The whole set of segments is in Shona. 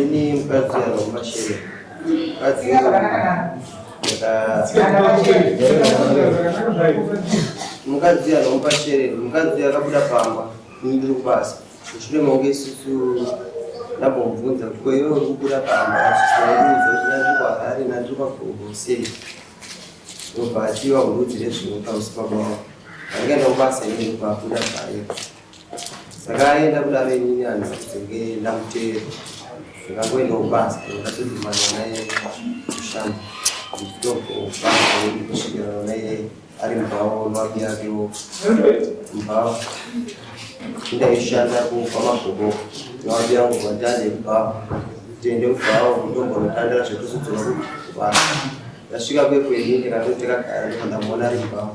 Ini mkadzi anaomba shere. Mkadzi mukadzi anaomba shere. Mukadzi akabuda pamba. Ini ndiri kubasa. Mushure mangu isusu ndambomubvunza kuti ko iwe uri kubuda pamba achizvaudza kuti ndandiri kwaHarare ndandiri kwaGombo sei. Ndobva achiva kurudzi rezvinhu pamusipabao. Ndakaenda kubasa ini ndikwabuda paye. saka aenda kudaro inini anhu senge ndamuteera ndakangoenda kubasa ndakatodhumana naye kushanda ndikutobva kusvikirana naye ari mubhawa nwapi yakewo mubhawa ndaishanda kupa magogo nwapi yangu kwatande mubhawa tiende kubhawa kutombonotandira zvekuzodzora kubasa ndasvika kwekweni ndikatoti kagara ndikandamuona ari mubhawa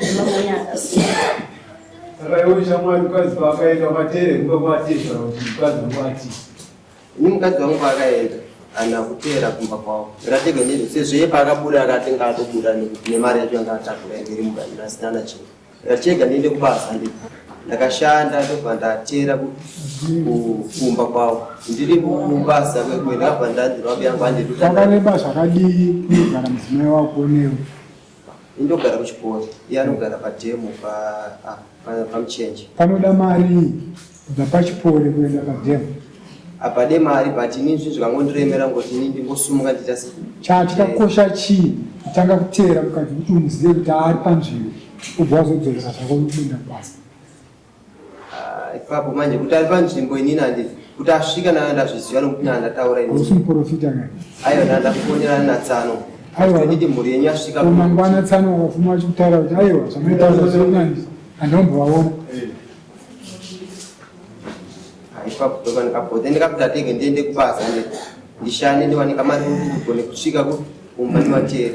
nemamwene akasiyana akaiwe shamwari mukadzi paakaenda matere kumba kwatezvara kuti mukadzi wangu ati ini mukadzi wangu paakaenda ana kuteera kumba kwavo ngatege nezvo sezveye paakabuda akatenga atobuda nekuti nemari yacho yanga atakura yange iri mubayiro asina na chinhu ndatichega ndiende kubasa ndi ndakashanda ndobva ndateera ku- ku- kumba kwavo ndiri kubasa kwekwe ndakabva ndanzi rwabi yangu anditanga andituta nebasa rakadii kunogara mudzimai wako newe Indogara kuchikoro. Iye anogara pademo pa ah, pa- pamuchenje. Panoda mari kubva pachipori kuenda pademo. Apade mari but ini zvinhu zvikangondiremera ngokuti ini ndingosumuka ndiita se- Cha chakakosha chii kutanga kuteera mukadzi kuti umuzive kuti ari panzvimbo ubva wazodzorera zvako kuenda kubasa. Ah, ipapo manje kuti ari panzvimbo inini handizi kuti asvika nana ndazviziva nokuti nana ndataura ini hausi muporofita kani aiwa nana ndakufonera natsano Aiwa. kuti mhuri yenyu yasvika Ko mangwana tsano wakafuma achikutaura kuti aiwa zvamaitaura zvekunandi andombovaona Ah, ipapo ndoka ndikapote ndikakuti atenge ndiende kubasa ndi- ndishande ndiwane kamari kuti ndigone kusvika ku- kumba ndivateri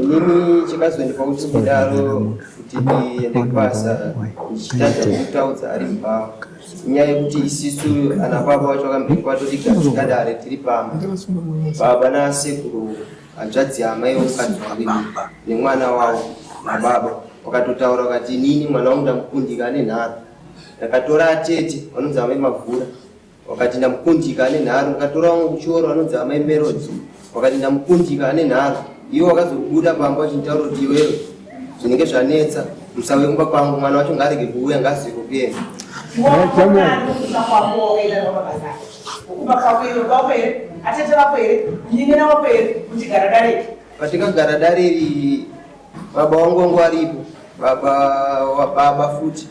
inini chakazoendwa kuti kudaro kuti ndiende kubasa ndichitadza kutaudza ari mbao nyaya yekuti isisu ana baba wacho akambiri kwatotigadzika dare tiri pamba baba nasekuru hanzvadzi amai vemukadzi waviri nemwana wavo nababa wakatotaura ukati inini mwana wangu ndamukundika ane nharo ndakatora atete vanonzi amai mavhura wakati ndamukundika ane nharo ndikatora wangu kuchioro anonzi amai merodzi wakati ndamukundika ane nharo iwe wakazobuda pamba wachinditaura kuti iwewe zvinenge zvanetsa musauye kumba kwangu mwana wacho ngaarege kuuya ngaasiye kukuyenda patikagara dare iri baba wangu wangu aripo baba wababa futi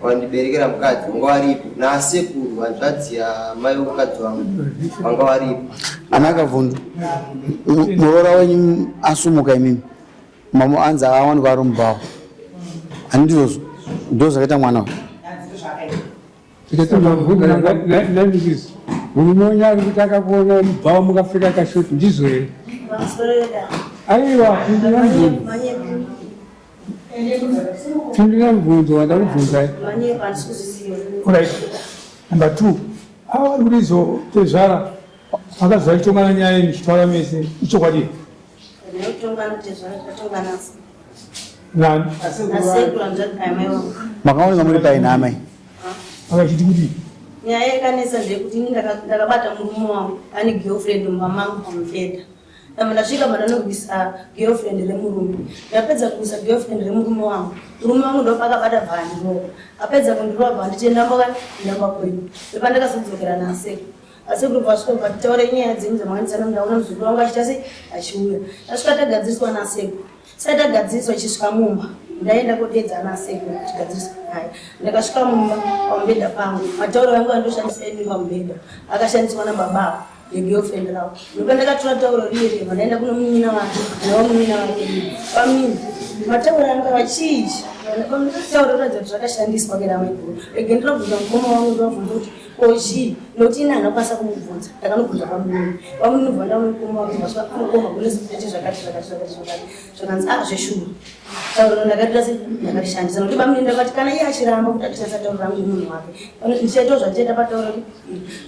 wandiberekera mukadzi wanga waripo nasekuru hanzvadzi yamai vemukadzi wangu vanga waripo ana kavhundu muroora wenyu asumuka imimi mamo anzi awanikwa ari mubhawa ani ndizvozvo ndo zvakaita mwana wa murume wenyu ari kuti akakuona mubhawa mukapfeka kashoti ndizvo here aiwa Pindura mubvunzo wandakubvunzai. Alright. Number two. Ava vari kurizo tezvara vakaziva kutongana nyaya yenyu zvitaura mese ichokwadi. Nani? Makaoneka muri pai namai? Vakachiti kuti nyaya yakanesa ndeyekuti ini ndakabata murume wangu ane girlfriend mumba mangu pamubhedha Ndabva ndasvika but anobvisa girlfriend remurume. Ndapedza kubvisa girlfriend remurume wangu. Murume wangu ndopakabata bvandirova. Apedza kundirova bhanditi ndamboka ndamba kwenyu. Pepa ndakazodzokera nasekuru. Asekuru vasvika but taure nyaya dzenyu dzamwandisana ndaona muzukuru wangu achita sei achiuya. Tasvika tagadziriswa nasekuru. Sai tagadziriswa chisvika mumba. Ndaenda kodeedza nasekuru tigadziriswa naye. Ndakasvika mumba pamubhedha pangu. Matauro yangu andoshandisa enyu pamubhedha. Akashandiswa nababa. ndopandakatora tauro riye riye vanaenda kuno munyina wake navo munyina wake pamini mataura anga vachiizhi tauro ratadza kuti zvakashandiswa kera maiguru rege ndinobvunza mukoma wangu ndovabvunza kuti kochii nokuti ini hanakwanisa kumubvunza ndakanobvunza pamuni pamuni nobva ndaona mukoma wangu vasvaa kumukoma kune zvinhu zvete zvakati zvakati zvakati zvakati zvakanzi ah zveshuwa tauro rino ndakatira se ndakarishandisa nokuti bamune ndakati kana iye achiramba kuti atishandisa tauro rangu nemunhu wake ndichaitawo zvandichaita patauro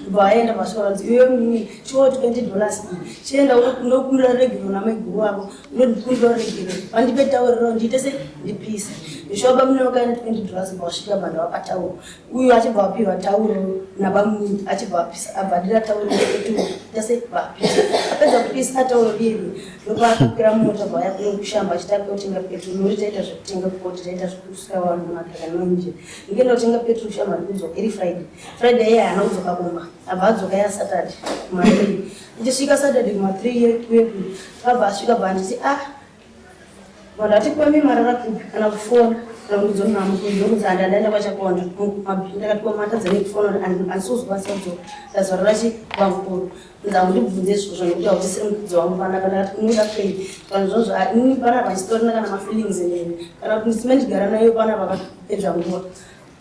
ndobva aenda pasvika vanzi iwe mimi chiwo twenty dollars chienda ndokumbira regero namaiguru wako ndondikumbira regero vandipe tauriro ndiite se ndipise zvishuwa bamune vakaenda twenty dollars bva vasvika banda vapatauro uyu achibva apihwa tauro nabamuni achibva abvadira tauro etu tese vapisa apedza kupisa tauro iri ndopaakapira mota vaya kune kushamba achiti apia kutenga peturu nori taita zvekutenga kukoti taita zvekusvika vanhu makakanonje nge ndotenga peturu kushamba rikudzo iri friday friday iye haana kudzoka kumba abva adzoka ya saturday kumathree ndichisvika saturday kumathree yekuyeku akabva asvika bva anditi ah Vanhu vati kwemi marara kupi kana kufona kana kuti dzona nhamo kundokuti handi andaenda kwachakonda mabhi ndakati kwemi matadza nekufona kuti asi uzwa sadzo ndazvarora chi kwamukuru nza undibvunze izvozvo nekuti hautisiri mukudzi wangu panaka ndakati kunoda fei kana zvozvo ini panapa chitorina kana mafeelings neni kana kuti ndisime ndigara nayo panapa kapedza nguva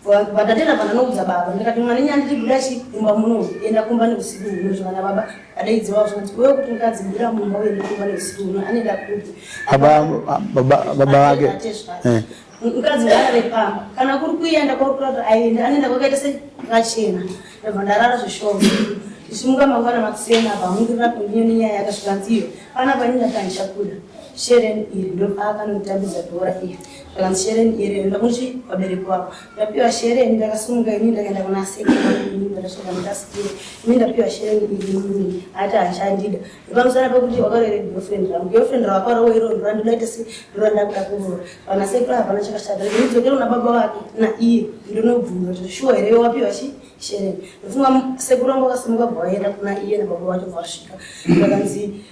Vatatenda vandanoudza baba ndikati mwana nyaya ndichibuda chi kumba muno enda kumba neusiku huno zvavana baba adaidziwa zvinoti wewe kuti mukadzi buda mumba uende kumba neusiku huno anoenda kupi baba vake eh. mukadzi ngaarare pamba kana kuri kuenda kwauri kuta kuti aende anoenda kwakaita sekachena ndobva ndarara zveshoo ndichimuka mangwana makuseni apa hamungirira kundiyo nenyaya yakasvika nziyo pana panini ndatandichakuda shereni iri ndopaakanotambidza bhora iri Kana shereni iri ndamuti vabereki vavo ndapiwa shereni ndakasimuka ini ndakaenda kuna sekuru ndakasvika ndikasikira ini ndapiwa shereni iri mimi ati achandida ipamusana pekuti wakarere girlfriend rangu girlfriend rawakarowa iro ndora ndinoita se ndora ndakuda kuroora pana sekuru hapana chakashata ndidzokera kuna baba vake na iye ndinobvunza kuti shuwa here wapiwa chii shereni ndofunga sekuru wangu akasimuka bva vaenda kuna iye nababa vacho bva vasvika ndakanzi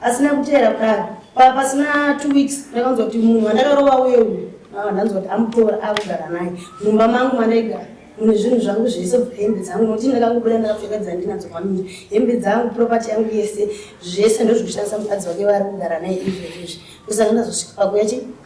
asi nekuteera kudaro pa pasina two weeks ndakanzwa kuti munhu wandakarova uye uyu ah, ndanzwa kuti amutora akugara naye mumba mangu mandaigara mune zvinhu zvangu zvese kubva hembe dzangu nokuti ndakangobuda ndakapfeka dzandinadzo kwamiri hembe dzangu propati yangu yese zvese ndozvikushandisa mukadzi wake vari kugara naye izvezvezvi kusaka ndazosvika pakuya chii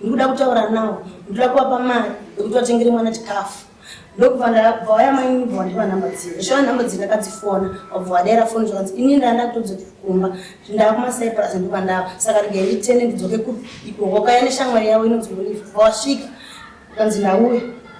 ndikuda kutaura nawo ndikuda kuvapa mari yekuti vatengere mwana chikafu ndokubva ndabva waya mainini bva wandipa nhamba dzino zvishona nhamba dzino ndakadzifona wabva wadaira foni zvakanzi ini ndaenda kutodzokera kumba ndava kumasaipurasi ndikubva ndava saka regai nditene ndidzoke kupi ikoko kaya neshamwari yavo inonzi olive bva wasvika kanzi ndauya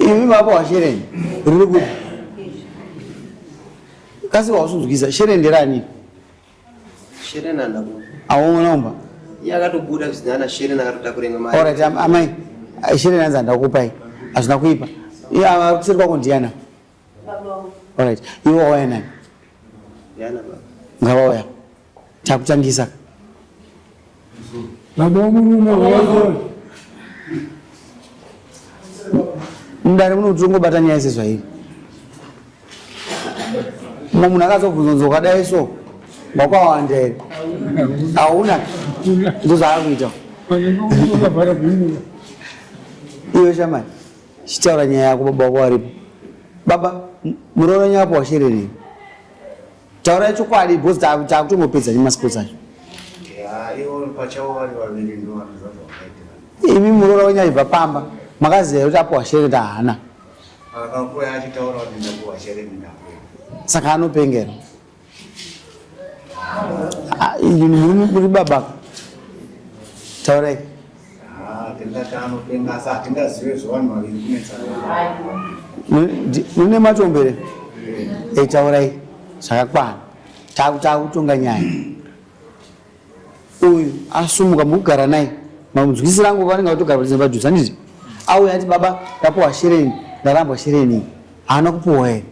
Imi baba washereni riri kupi? Kasi wausunzwisa shereni nderani? Shereni andako. Aona umba. Yakatobuda zvisina ana shereni akatotakura imwe mari. Alright amai shereni anzi andakupai hazvina kuipa. Iya kuseri kwako ndiana. Baba. Alright iwe wauya nani? Ndiana baba. Ngavauya. Takutangisa. Baba womurume wawazoona. Mudare muno kuti tongobata nyaya sezvairi. Mumwe munhu akazobvunza kunzi wakadai so wakwawanda here? Hauna. Ndozvaakakuita. Iwe shamani, chitaura nyaya yako baba wako waripo. Baba, m- muroora nyaya wako washererei? Taura chokwadi because taakutongopedza nemasports acho. Imi muroora wenyu aibva pamba makaziva kuti apo washere tahana. Saka anopengera. Ah, Muri baba. Taurai. mune matombere eh, taurai zvakakwana takutonga nyaya uyu asumuka mukugara naye mamudzwisi rangu vanenge vatogara kuti padhuze andizvi auya ati baba ndapuwa shereni ndarambwa shereni haana kupuwa here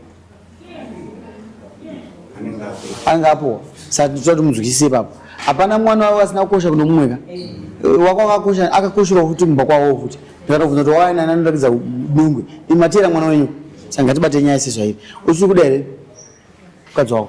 anenge apowa saka tichida kuti munzwisise ipapo hapana mwana wavo asina kukosha kuno mumwe ka eh, wako akakosha akakosherawo futi mumba kwavo futi ndikatobvunza kuti waina anoratidza dungwe imatiyera mwana wenyu saka ngatibate nyaya sezvairi usiri kuda here mukadzi wako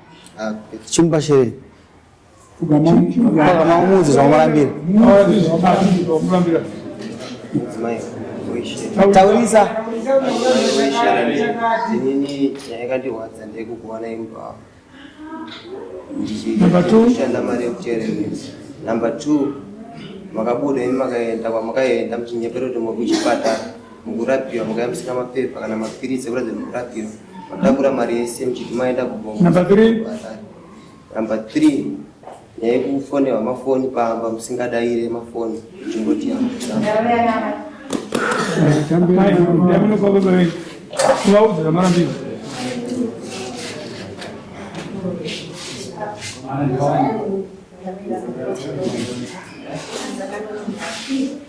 chimupa shere ukamuudzi zvaumurambira taurisa inini yayakandirwadza ndekukuwana imba wavo ndichishanda mari yekuteera number two makabuda ini makaenda kwamakaenda muchinyepera kuti muri kuchipatara mukurapiwa mukayambisika mapepa kana mapiritsi ekuratidza kuti mukurapiwa matakura mari yese muchiti maenda kubongo number three number three nyaya yekufonewa mafoni pamba musingadaire mafoni chimboti Thank you.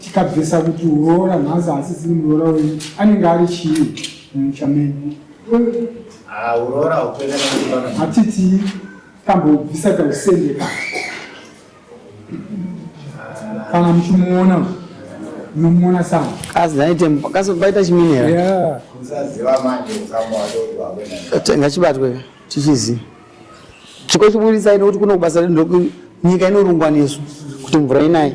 tikabvisa kuti uroora nhasi asi zini muroora wenyu anenge ari chii mumusha menyu ah, uroora hatitii tambobvisa tausendeka kana muchimuona munomuona sana kazobaita chiminera ngachibatwe tichiziva chiko chiburitsa ino kuti kuno kubasa nyika inorungwa nesu kuti mvura inayi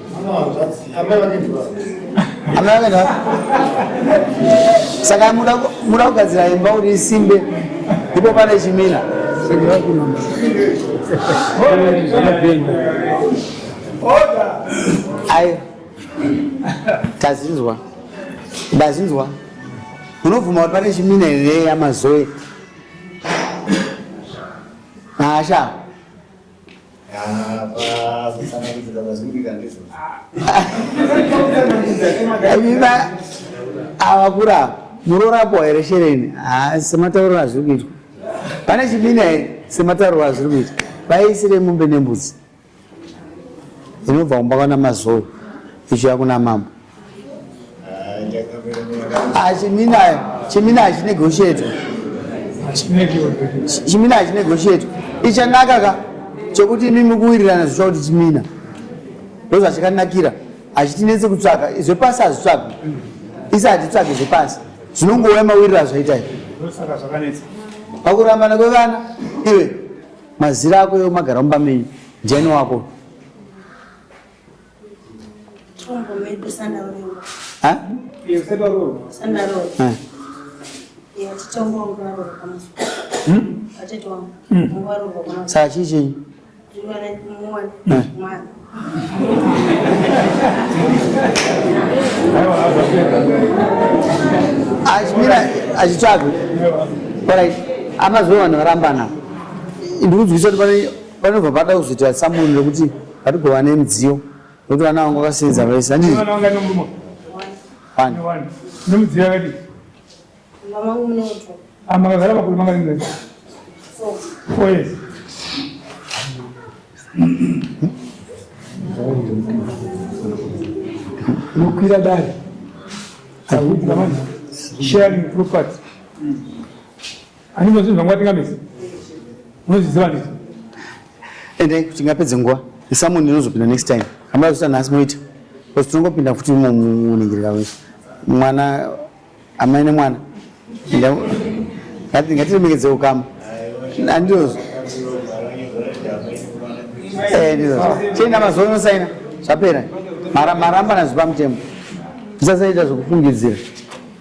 saka muda kugadzira imba kuti isimbe ndipo pane chimina ayo tazinzwa ndazinzwa munobvuma kuti pane chimina here yamazoe hasha Viva awakura murorapo here shereni ah, sematauriro azviri kuitwa pane chibina here sematauriro azviri kuitwa vaisire mombe nembudzi inobva kumba kwana mazou ichiya kuna mambo Ah, chimina chimina hachinegotiate chimina hachinegotiate ichanaka ka chokuti imi mukuwirirana zvicha kuti chimina ndozvachakanakira hachitinetse kutsvaka zvepasi hazvitsvagwi isi hatitsvage zvepasi zvinongouya mawiriro azvaitai pakurambana kwevana iwe mazira ako yo magara mumba menyu ndiani wako saa chii chenyu achimira achitsvaga orit amazuva vanhu varambana ndikudzwisa kuti pane Panobva pada kuzoita samuno rekuti patigova nemidziyo nekuti vana vangu vakasenza vese handii nemidziyo yakati makagara makore makaringa four years nokwira dare sharing property Anizwa zvinhu zvangu atingamisi. Unozviziva ndizvo. Ende tingapedze nguva. Someone inozopinda next time. Hamuna zita nhasi moita. Because tinongopinda futi muningirira wese. Mwana amai nemwana. Ngati ngatiremekedze ukama. Andizo. Eh ndizo. Chenda mazuva unosaina. Zvapera. Mara maramba nazvipamutemo. Tisasaita zvokufungidzira.